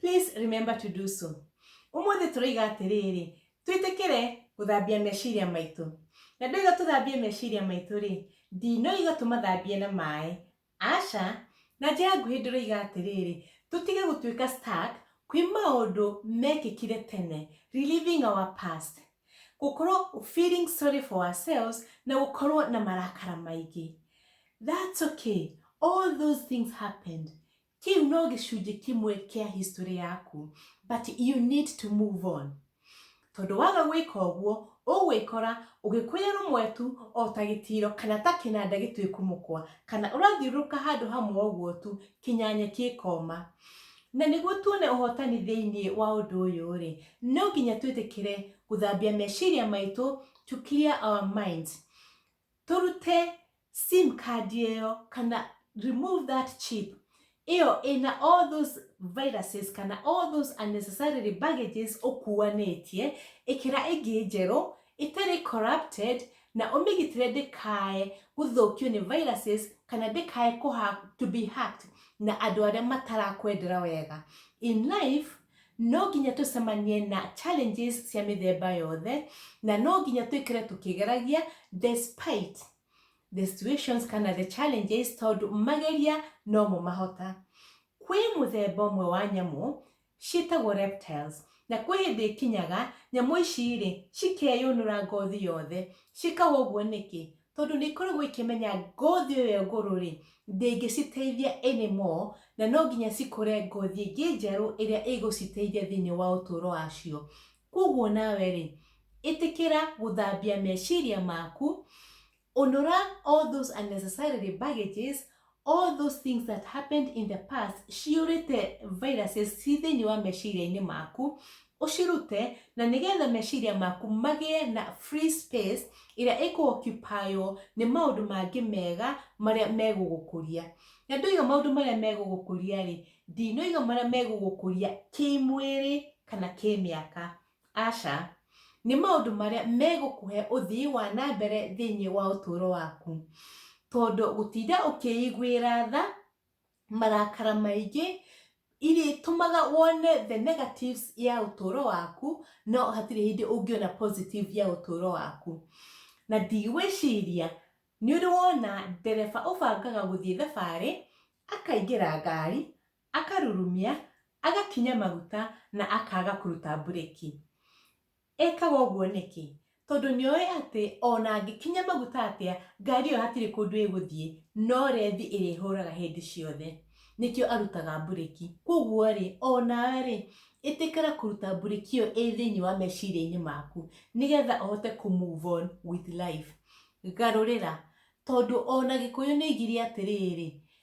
Please remember to do so. Umuthi turoiga atiriri, twitikire guthambia meciria maitu. Na ndoiga tuthambie meciria maitu ri, ndinoiga tumathambie na mai. Asha, na njira nguhi ndiroiga atiriri, tutige gutuika stuck kwi maundu mekikire tene, reliving our past. Gukorwo feeling sorry for ourselves na gukorwo na marakara maingi. That's okay. All those things happened. Kĩu no gĩcunjĩ kĩmwe kĩa history yaku, but you need to move on. Tondũ waga gwĩka ũguo, ũgwĩkora ũgĩkũrĩa rũmwetu o ta gĩtiro kana ta kĩnanda gĩtuĩku mũkwa, kana ũrathiũrũrũka handũ hamwe ũguo tu kinya nyeki ĩkoma. Na nĩguo tuone ũhotani thĩinĩ wa ũndũ ũyũ rĩ, no nginya twĩtĩkĩre gũthambia meciria maitũ to clear our minds. Tũrute sim card ĩyo kana remove that chip ĩyo ĩna all those viruses kana all those unnecessarily baggages ũkuanĩtie ĩkĩra ĩngĩ njerũ ĩtarĩ corrupted na ũmĩgitĩre ndĩkae gũthũkio nĩ viruses kana ndĩkae to be hacked na andũ arĩa matarakwendera wega in life No nginya tũcemanie na challenges cia mĩthemba yothe na no nginya twĩkĩre tũkĩgeragia despite the situations kana the challenges tondũ mageria no mo mahota. Kwĩ mũthemba ũmwe wa nyamũ ciĩtagwo reptiles na kwĩ hĩndĩ ĩkinyaga nyamũ ici rĩ cikeyũnũra ngothi yothe. Ciĩkaga ũguo nĩkĩ? tondũ nĩ ikoragwo ikĩmenya ngothi ĩyo ngũrũ rĩ ndĩngĩciteithia anymore na no nginya cikũre ngothi ĩngĩ njerũ ĩrĩa ĩgũciteithia thĩinĩ wa ũtũũro wacio kwoguo nawe rĩ ĩtĩkĩra gũthambia meciria maku ũnũra all those unnecessarily baggages all those things that happened in the past ciũrĩte viruses ci thĩinĩ wa meciria-inĩ maku ũcirute na nĩgetha meciria maku magĩe na free space ĩrĩa ĩkũokupaywo nĩ maũndũ mangĩ mega marĩa megũgũkũria na ndoiga maũndũ marĩa megũgũkũria rĩ ndinoiga marĩa megũgũkũria kĩmwĩrĩ kana kĩmĩaka Aca, nĩ maũndũ marĩa megũkũhe ũthii wa na mbere thĩinĩ wa ũtũũro waku. Tondũ gũtinda ũkĩiguĩra tha marakara maingĩ irĩtũmaga wone the negatives ya ũtũũro waku no hatirĩ hĩndĩ ũngĩona positive ya ũtũũro waku. Na ndigwĩciria nĩ ũrĩ wona ndereba ũbangaga gũthiĩ thabarĩ akaingĩra ngari Akarurumia, agakinya maguta na akaaga kũruta mburĩki. Ekaga ũguo nĩkĩ? Tondũ nĩ oĩ atĩ o na angĩkinya maguta atĩa, ngari ĩyo hatirĩ kũndũ ĩgũthiĩ, no rethi ĩrĩhũraga hĩndĩ ciothe. Nĩkĩo arutaga mburĩki. Kwoguo-rĩ, o nawe-rĩ, ĩtĩkĩra kũruta mburĩki ĩyo ĩ thĩinĩ wa meciria-inĩ maku nĩ getha ũhote kũ move on with life. Garũrĩra. Tondũ o na Gĩkũyũ nĩ oigire atĩrĩrĩ,